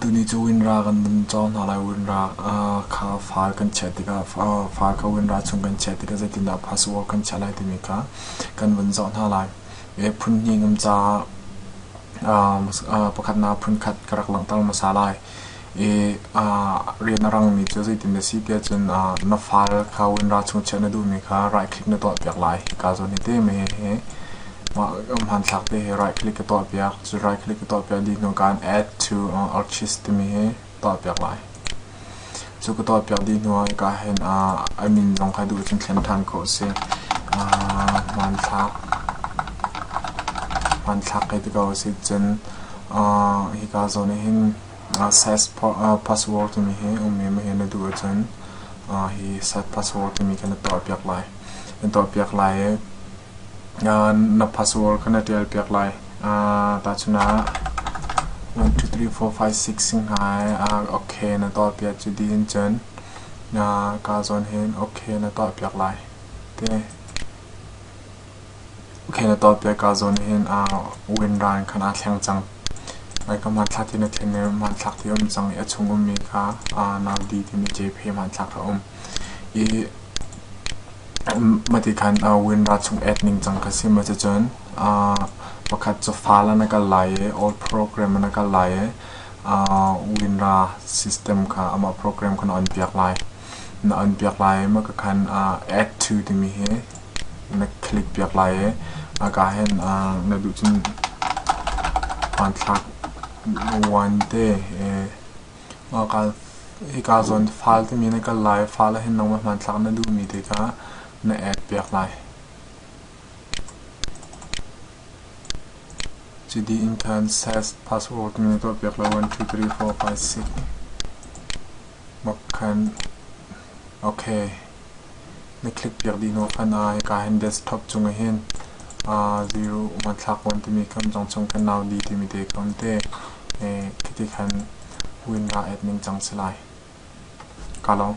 Tuni cu Winra kan vun cawng hna lai. Winra kha far kan chiah tikah, far kha Winra chung kan chiah tikah zeitindah Phasua kan chiah lai timi kha kan vun zoh hna lai. Phun hnih kan ca, pakhatnak phun khat ka rak langhter hmasa lai. rian a rangmi cu zeitin dah a si tiah cun na file kha win ra chung chiah na duhmi kha right click na tuahpiak lai hika zawn i ti mi hi mah hmanthlak te hi right click ka tuahpiak cu right click ka tuahpiak dih hnu kan add to artist timi hi tuahpiak lai cu ka tuahpiak dih hnu ah hika hin admin zong kha duh cun thlen ṭhan ko si hmanthlak hmanthlak hei ti ko si cun hika zawn i hin Site password timi hi um i mah hi na duh ahcun hi site password timi kha na tuahpiak lai. Na tuahpiak lai i na password kha na ṭialpiak lai. Tahchun ah one two three four five six hing hai okay na tuahpiak cu dih in cun kaa zawn hin okay na tuahpiak lai ti a si. Kheng na ton piak ah zawn hin wind ran khan aa thleng cang. Kam hmanthlak ti na thim i hmanthlak ti a um cang i a chung ummi kha nau di timi cephe hmanthlak kha a um. I mah ti khan wind ran chung et ning cang kha si. Cucun pakhat cu fal ah na kal lai i old program ah na kal lai i wind ra system kha amah program kha na on piak lai. Na on piak lai i mah kha khan add to timi hi na thlik piak lai i a kaa hen na duh cun hmanthlak vuante hika zawn file timi na kal lai file ahhin nangmah hmanthlak na duhmi te kha na add piak lai. Cidi intern sas password timi na tuah piak lai one two three four five six. Okay. na click piak dih naw fan ah hika hin desktop cung ah hin zero hmanthlak kan timi kan zong chung kan nau di timi te kan te khiti khan win ra et ning cang si lai ka lawm.